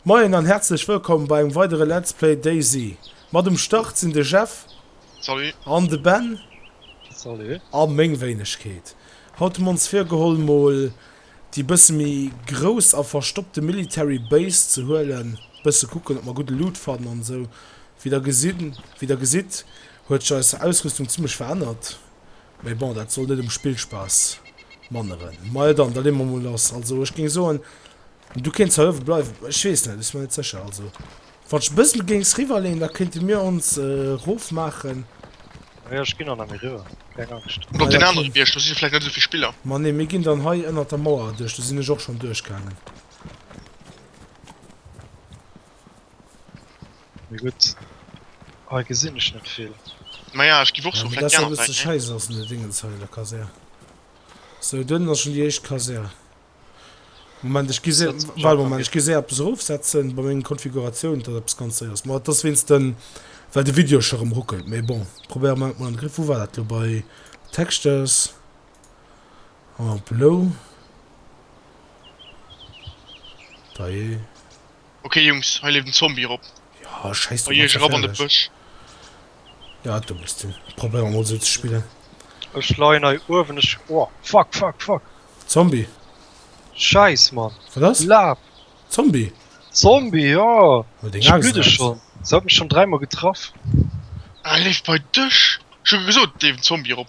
Moien an häerzlech wëllkomm bei engem weidere Let's Play DayZ. Mat um Start sinn de Jeff. Salut. An de Ben. Salut. A meng Wéinegkeet. Haut hu mer ons virgeholl mol déi bësse méi grouss a verstoppte Military Base ze huelen, bësse kucken ob mer gudde Loot fannen an esou. Wéi der gesinn, wéi der gesitt huet sech eis Ausrüstung zimmlech verännert, mä bon dat soll net um Spillspaass manneren. Majo dann, da leeë mer mol lass. Also ech géing soen Du kéints Hëllef bleiwen, ech weess net, ech sinn mer net sécher. Also wann ech e bëssel géings riwwer leen, da kéinte mir ons erof maachen. Ah jo, ech ginn dann emol riwwer, keng Angscht. Oder op deen anere Bierg, do si vläicht net esou vill Spiller. Ma nee, mir ginn dann hei ënnert der Mauer erduerch, do sinn ech och schonn duerchgaangen. Mee gutt, hei gesinn ech net vill. Ma ja, ech giff och soen, vläicht déi aner Säit, nee? Hei ass en, de Dingens hei an der Kasär. Sou, do ënnen ass schonn déi éischt Kasär. Moment, ech gi se, warte mol, Moment, ech gi se eppes erofsetzen bei mengen Konfiguratiounen, dass eppes ganz séiers, ma dass wéinst den, well de Video scho rem ruckelt, mais bon, probéiere mer et mol an de Griff. Wou war dat lo? Bei Textures en bleu, da je. Okay Jungs, hei leeft en Zombie erop. Ja, scheiß Bei iech erop an de Bësch. Ja, du muss den. Probéier mal so ze spillen. Ech leien hei uewen, ech. Oh, fuck, fuck, fuck. Zombie. Scheiß, Mann. Wat ass? Laf. Zombie. Zombie, ja. Oh, deng Axt. Blüde schon. Se hat mech schon dräimal getraff. Ah, leeft bei dech. Schon gesot, leeft en Zombie erop.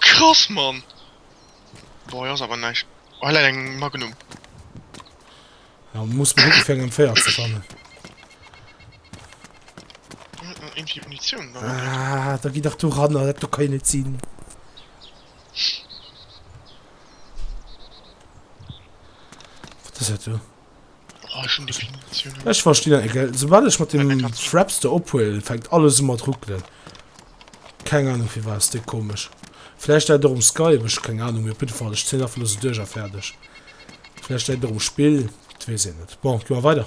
Krass man Boah ass awer näischt Well eng Magnum muss fir engem Féier ze fannen ah, Da gi dach du ran dat du kann net sinn Wat ass dat do? Ech versti dat net gell, soubal ech mat dem Fraps do ophuelen fänkt alles u mat ruckelen. Keng Ahnung firwat, déi komesch. Vläicht läit et och um Skype, ech hu keng Ahnung mee op jidde Fall ech zéien einfach elo sou duerch a fäerdeg. Vläicht läit et och um Spill, dat weess een net. Bon, gi mer weider.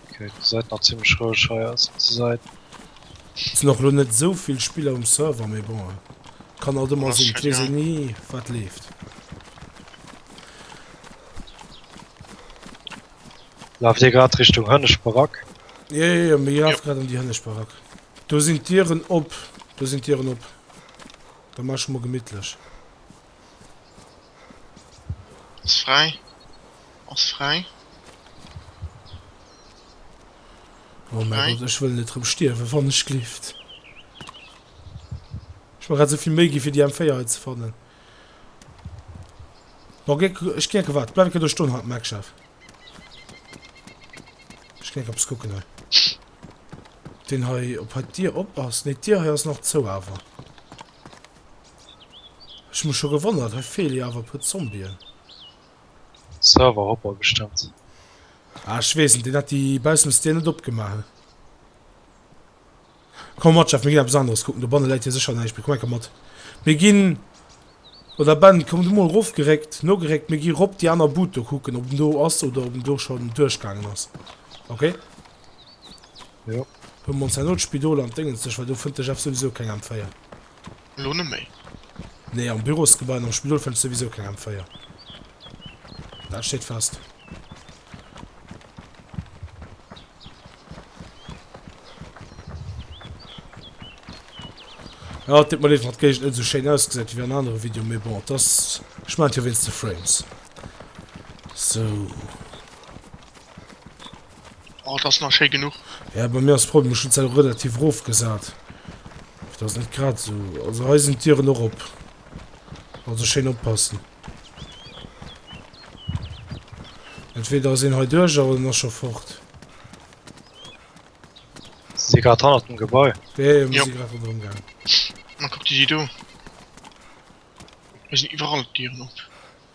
Okay, da seid nach ziemlech roueg hei aus onse Seit. Sinn och lo net sou vill Spiller um Server, mee bon et kann alt emmer sinn, et wees een nie wat leeft. Laaft dir grad Richtung Hënneschbarack? Jo jo jo, mir lafe grad an déi Hënneschbarack. Do sinn d'Dieren op, do sinn d'Dieren op, da maache mer gemittlech. Ass fräi. Ass fräi. Oh mäi Gott, ech wëll net rëm stierwen, wann ech gleeft. Ech mer grad esou vill Méi ginn, fir déi M4 hei ze fannen. Bon, gé, ech ginn eng Kéier waarden. Bleiw eng Kéier do stoen, Har, Mike, Chef. Ech ginn eng Kéier eppes kucken hei. Deen hei, ob hei d'Dier op ass? Nee, d'Dier hei ass nach zou awer. Ech mech scho gewonnert, hei feele jo awer e puer Zombien. Server hopper bestemmt. Ah ech wees net, deen hat déi baussems Dier net opgemaach. Komm mat Jeff, mir ginn eppes aneres kucken, dobanne läit jo sécher näischt, mir kommen enker mat. Mir ginn, oder Ben komm du mol rof geréckt, nogeréckt, mir gi rop déi aner Bud do kucken ob en do ass oder ob en do schonn duerchgaangen ass. Ok. Jo. Huel mol d'Scène no, d'Spidol an d'Déngens sech, well do fënnt de Jeff souwisou keng M4. Elo net méi. Nee, am Bürosgebai an am Spidol fënns souwisou keng M4. Dat steet fest. Jo, et deet mer leed, wann d'Géigend net esou schéin ausgesäit wéi an anere Videoen, mee bon, et ass, ech maachen et jo wéinst de Frames. Sou. Oh, dat ass nach schéi genuch. Ja, bei mir ass d'Problem, ech hunn d'Säil relativ erof gesat. Dat ass net grad esou. Also hei sinn d'Dieren och op. Also schéin oppassen. Entweder ass een hei duerch an en ass scho fort. Si si grad hannert dem Gebai? Jo, jo, mir si grad ronderëm gaangen. Ma kuck dir déi do. Hei sinn iwwerall d'Dieren op.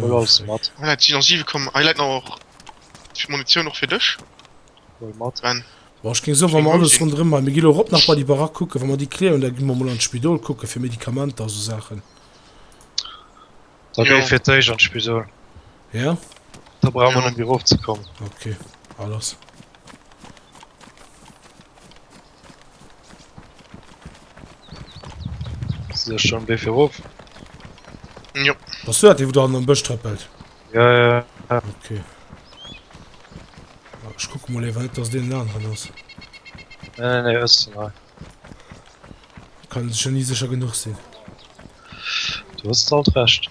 Hol alles mat. Hei läit 7 komm, hei läit nach och Munitioun och fir dech. Hol mat. Ben. Bon, ech géing soen, wa mer alles ronderëm hei, mir ginn elo erop nach bei déi Barack kucken, wa mer déi clearen, da gi mer emol an d'Spidol kucke fir Medikamenter a sou Saachen. Da géi fir d'éischt an d'Spidol. Ja? Da brauche mer net méi erofzekommen. Ok, alles. Sech schon wéi fir ruf. Jo. Was du dat dee wo dann am Bësch trëppelt? Ja, ja. Okay. Ah, Ich guck mal ewer net dass den Laden dran ass. Nee, nee, nee, ëss mal. Kann sech ja nie sicher genug sinn. Du hast alt recht.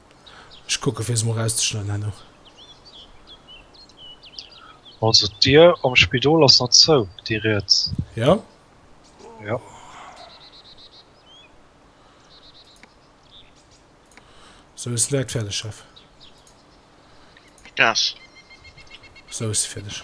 Ech kucken fir se mol rauszeschneiden herno. Also d'Dir am Spidol ass nach zou, déi riets? Jo. Jo. Sou ass se direkt fäerdeg, Chef. Yes. Sou ass se fäerdeg.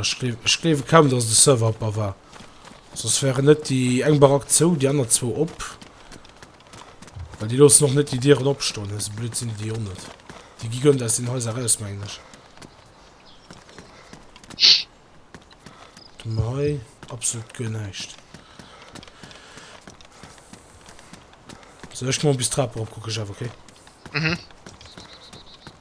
Ech gleewe kaum, dass de Server op a war. Soss wären net déi eng Barack zou, déi aner zwou op. Well déi loossen och net déi Dieren opstoen. Esou blöd sinn déi déi och net. Déi gi guer net aus den Haiser eraus, mengen ech. Dann hei absolut guer näischt. Soll ech mol bis d'Trap eropkucken, Jeff, okay? Mhm.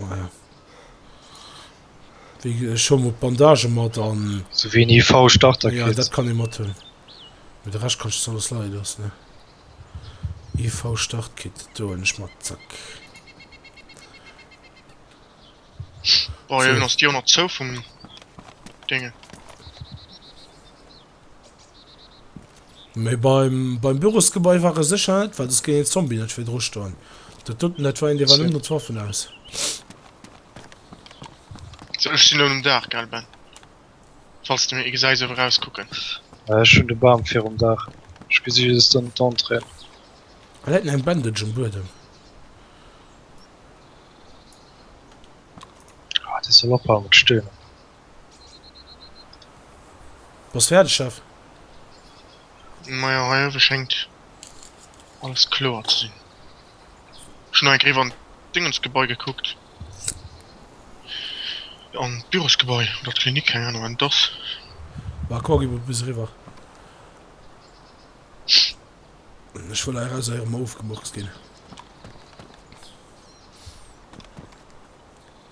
Maja. Ech hu mol Bandage mat an. Sou wéi en IV Starter kritt. Ja dat kann ee mat hunn. Mee de Rescht kann ech alles leie loossen. IV Start Kit, do hunn ech mat, zack. Bon, jo, dann ass déi och nach zou vum Déngen. Mee beim Bürosgebai war e sécher net, well soss géing een Zombie net fir dru stoen. Dat doten, dat war een, dee war net mat Waffen aus. So, ech sinn elo nom Daach, gell Ben? Falls de mir ee gesäis eriwwer erauskucken. Äh, ech hunn de Bam virum Daach. Ech gesi just ënnen d'Entrée. Hei läit nach eng Bandage um Buedem. Ah, dee soll ophalen mat stöhnen. Bass färdeg Chef? Majo hei owe schéngt alles kloer ze sinn. Ech hun nach eng Kéier an d'Dingensgebai gekuckt, an d'Bürosgebai oder d'Klinik, keng Ahnung waat et ass. Bah komm gi mer bis eriwwer, ech wëll hei eraus erem ofgemurkst ginn.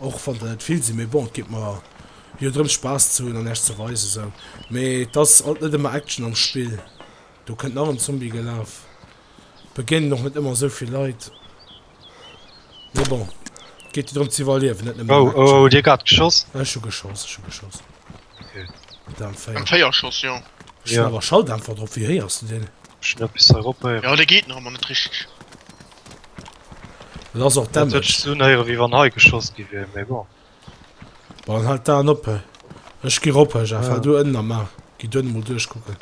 Och wann der net vill si, mee bon, et geet mer jo drëms Spaass ze hunn an Äech ze weisen sou. Mee et ass alt net ëmmer Action am Spill, do kënnt nach en Zombie gelaf, begéinen och net ëmmer esou vill Leit, mee bon, et geet jo drëm ze iwwerliewen, net nëmmen ëm Action. Hutt Dir grad geschoss? Ech hu geschoss, ech hu geschoss. Okay. Mat der M4. M4 geschoss, jo. Ech hunn awer Schalldämpfer drop, wéi héiers du deen? Ech hunn eppes hei erophéieren. Jo, dee geet nach ëmmer net richteg. Et ass och damaged. Dat huet sech sou unhéieren wéi wann hei geschoss gi wier, mee bon. Bon, halt d'Aen op. Ech gi rop, Jeff, hal du ënnen a mar gi duerno mol duerchkucken.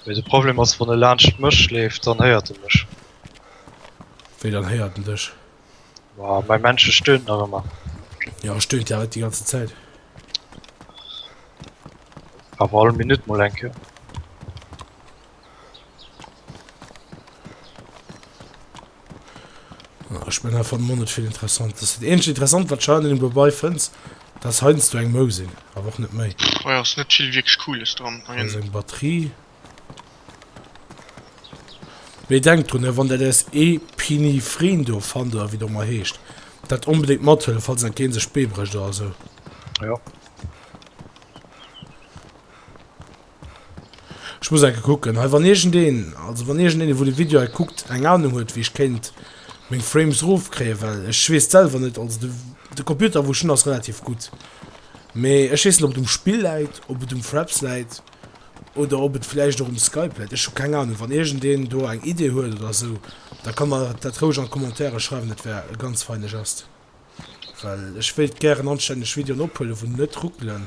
Mee de Problem ass, wann e laanscht mech leeft, dann héiert e mech. Wéi dann héiert en dech? Ma mäi Männche stöhnt nach ëmmer. Jo, stöhnt ja net déi ganze Zäit. Awer all Minutt mol eng Kéier. Ech mengen einfach Monet vill interessant ass. Dat eenzeg interessant wat Schein dem dobei fënns, dass heinst du eng Mou sinn, awer och net méi. Oh jo, ass net vill wierklech cooles dran. Hei ass eng Batterie. Mee denkt drun, wann der däers Epinephrine do fannt, oder wéi et och ëmmer heescht, dat onbedéngt mathëllef, falls dat Game sech d'Bee brécht oder esou. Jo. Ech muss enke kucken hei wann iergendeen, also wann iergendeen wou de Video hei kuckt eng Ahnung huet wéi ech kéint meng Frames roof kréien, well ech weess selwer net, also de de Computer wou ech hunn ass relativ gutt mee ech weess net ob et um Spill läit, ob et um Fraps läit oder ob et vläicht och um Skype läit, ech hu keng Ahnung. Wann iergendeen do eng Idee huet oder esou da ka mer dat roueg an d'Commentairen schreiwen, dat wär e ganz feine Gest well ech wéilt gären anstänneg Videoen ophuelen wou net ruckelen.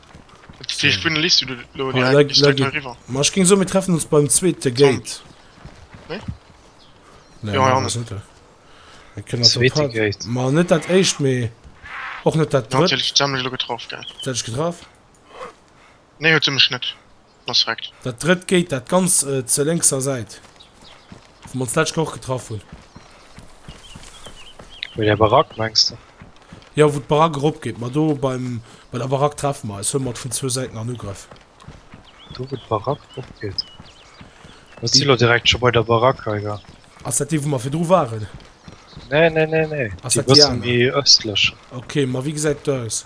Mach ging so mir treffen uns beim zweite Gate Mal net dat echt me och net dat getroffen. Nee, Respekt. Dat drëtt Gate, dat ganz zur lénkser Säit, wou mer ons d'lescht Kéier och getraff hunn. Bei där Barack, mengs de? Jo, wou d'Barack eropgeet. Ma do beim, bei der Barack treffe mer eis. Huele mer et vun zwou Säiten an Ugrëff. Do, wou d'Barack eropgeet? Mer si lo direkt scho bei der Barack hei, jo. Ass dat déi, wou mer virdru waren? Nee, nee, nee, nee. Ass dat déi aner? Déi e bësse méi ëstlech. Okay, ma wéi gesäit et do aus?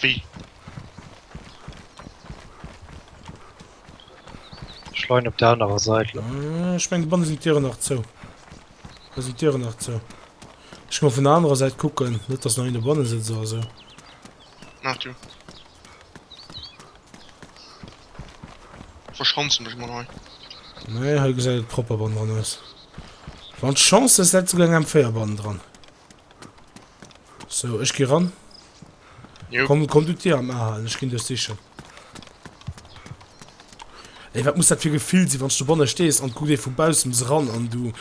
Wéi? Schlein op der anerer Seit. Äh, ech meng bannen sinn Dieren nach zou. Da sinn Dieren nach zou. Ech mo vun der anerer Seit kucken, net dass nach een do banne sëtzt oder sou. Nach du. Verschanze mech mal hei. Nee, hei gesäit et propper bannen dran aus. Wann Chance hues, läit souguer eng M4 bannen dran. So, ech gi ran. Jo. Komm, komm du dir am Ahalen, ech ginn duerch sichen. Ey, wat muss dat fir Gefill sinn, wann du banne stees an guckt ee vu baussems ran an du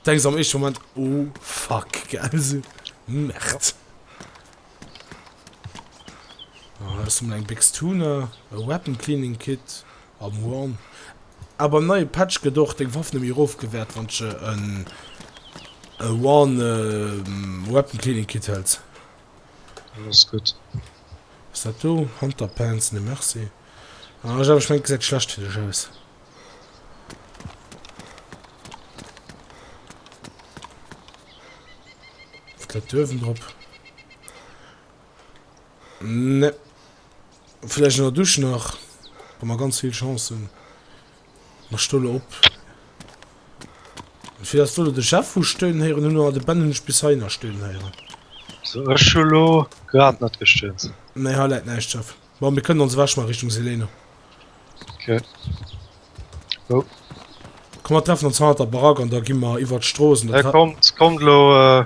denks am éischte Moment, oh fuck, gell, so Merd. Ah, ech hun eng Béchs Tuner, e Weapon Cleaning Kit. Am One. A beim neie Patch gëtt och deng Waff nëmme erof gewäert wann sche en One Weapon Cleaning Kit hëlls. Dat ass gutt. Ass dat do Hunter Pants? Nee merci. Ah ech awer ech mengen et gesäit schlecht fir dech aus. Wat läit do uewen drop? Nee. Vläicht an der Dusch nach, wa mer ganz vill Chance hunn. Mer stoule op. Fir datt elo de Jeff hu stönen héieren, hunn awer de Ben hunn ech bis hei nach stönen héieren. So, ech hu lo grad net gestönt. Nee, hei läit näischt, Jeff. Bon, mir kënnen ons ewech maachen, Richtung Selene. Ok. Wou? Komm, mer treffen ons hanner der Barack an da gi mer iwwert d'Strooss. Hei, kommt, kommt elo.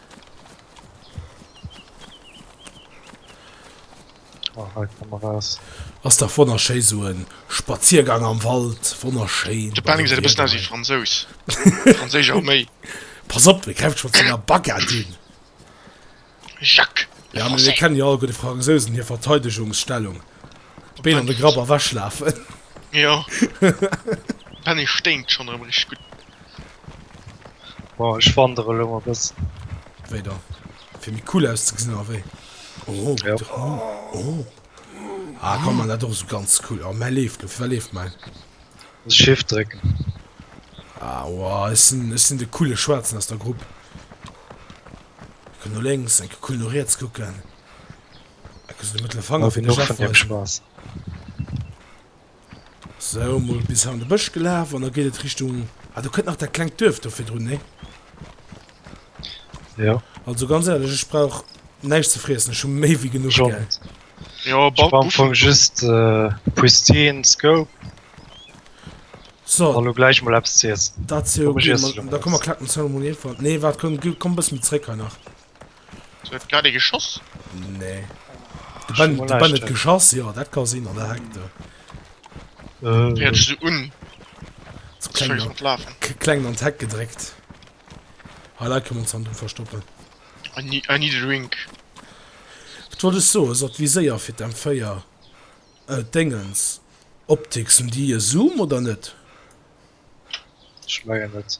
Ass dach wonnerschéi sou en Spaziergang am Wald, wonnerschéin. De Benny gesäit e bëssen aus wéi Fransous, franséisch Arméi. Pass op, e gräift schonn zu enger Baguette un. Jacques le français. Jo, mir kennen jo all gutt de Fransousen hir Verteidegungsstellung, d'Been an de Grapp a wech lafen. Jo, de Benny sténkt schonn erëm richteg gutt. Bon, ech wandere lo e bëssen. Wéi da? Fir méi cool auszegesinn, oder wéi? Oh, ja. Oh, oh. Ah, komm, man, dat och so ganz cool. Oh, mäi leeft lo. Fir wat leeft mäi? Das Shift drécken. Ah, wow, ech sinn, ech sinn de coole Schwaarzen aus der Grupp. Kuck no lénks, eng cool no riets kucken. Ecke so de mëttlere Fanger fir de Chef weisen. Spaß. Sou, mol bis han de Bësch gelaf an da geet et Richtung, ah do kënnt nach dat klengt Duerf do virdrun, nee? Jo. Also ganz ehrlech, ech brauch näischt ze friessen, ech hu méi wéi genuch, Schon. gell? Jo, Ech bal war am Busch. Fong just äh, Pristine Scope an So, lo gläich mol eppes ze iessen. dat si Komm, ech iessen elo mol Da komm, mer eppes. klacken ze mol ierfort. Nee, waart, komm, gi, komm bëssen méi zréck hei nach. grad e geschoss nee geschoss ja dat kann sinn an der hängt äh. un kleng an tech gedréckt ha la kann uns an du verstoppen an nie an nie drink tro so dat wie séier fir dem feier äh, dingens optik sind die zoom oder net schmeien net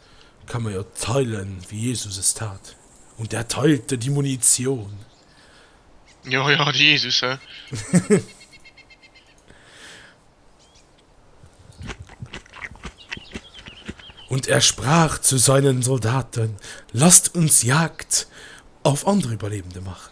Kann man jo teilen wéi Jesus es tat, und er teilte die Munition. Jo jo, de Jesus, he? Und er sprach zu seinen Soldaten, Lasst uns Jagd auf andere Überlebende machen.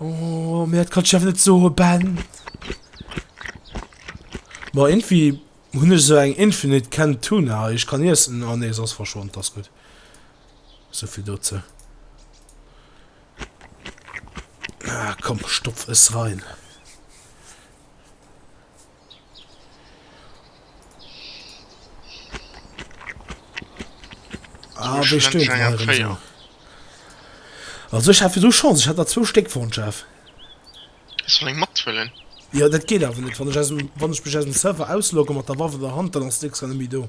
Oh, mir dat kannst du einfach net soe Ben. Ma irgendwie hunn ech so eng Infinite Can Tuna. Ech kann iessen. Oh nee, sos verschwonnt, das gut. So viel dozu. Ah, komm, stopf es rein. Ah, wéi stöhnt er herum so. Also ich hatte so Chance, ich hatte zwei Stück von Chef. Ist von einem Mattwillen. Ja, das geht aber nicht. Wenn ich, aus dem, wenn ich mich aus dem Server auslogge mit der Waffe in der Hand, dann ist nichts mehr do.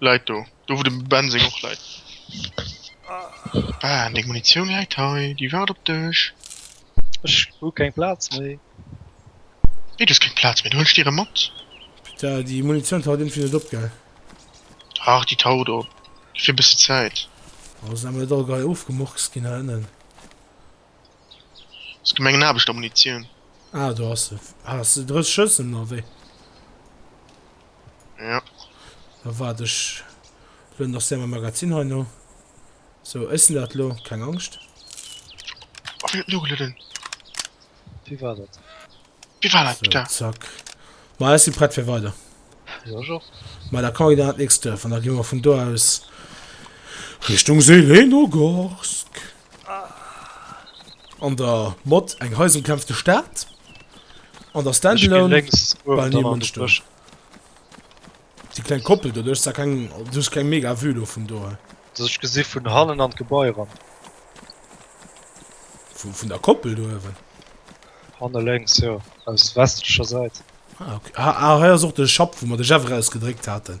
Läit do. Do wou de Ben seng och läit. Ben, deng Munitioun läit hei, déi waart op dech. Ech hu keng Plaz méi. Wéi du hues keng Plaz méi? Da huelen ech déi erëm mat. Putain, déi Munitioun taucht iergendwéi net op, gell? Dach, déi taucht op. Gëff hir e bëssi Zäit. Ass emmer net all Gei ofgemurkst ginn hei ënnen. Ass gi mengen Aarbechter Munitioun. Ah, do ass se. Has de 30 Schëssen oder wéi? Ja. Da waart, ech lueden nach séier mäi Magazin hei no. Sou, ech sinn dat elo, keng Angscht. Oh, wien huet nogelueden? Wie war dat? Wie war dat, So, bitte? zack. Ma ech si prett fir weider. Jo, ech och. Ma da kann ech dann an d'nächst Duerf an da gi mer vun do aus Richtung Zelenogorsk. An der Mod eng Heise bekämpft de Staat. An der Standalone bei nie Mënster. Die kleine Koppel, du hast da kein, du hast kein mega Vue lo vun do. Das ich gesehen vun hannen an d'Gebäi ran. Vu vun der Koppel do ewen? Hanne lenks, ja. Aus westlicher Seite. Ah, okay. ah, ah, hei ass och de Schapp, wo man de Jeff rausgedréckt hatten.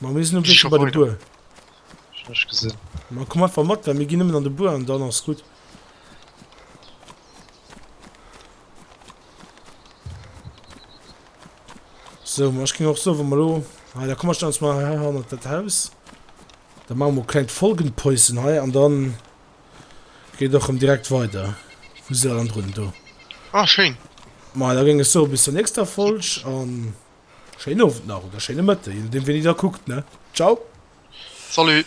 Ma mir sinn um Wee bei de Buer. Schlech gesinn. Ma komm einfach mat, well mir ginn nëmmen an de Buer an dann ass gutt. So, ma ech ging och so, wann mer lo. Ah, da komm ech dann mal her hannert dat Haus. Da machen wir klein Folgenpäuschen hei an dann geht doch um direkt weiter. Wo se an run do. Ah, schön. Ma da ging es so bis zur nächster Folge an. Schéin Owend nach oder schéine Mëtte, je nodeem wéini der kuckt ne. Ciao. Salut.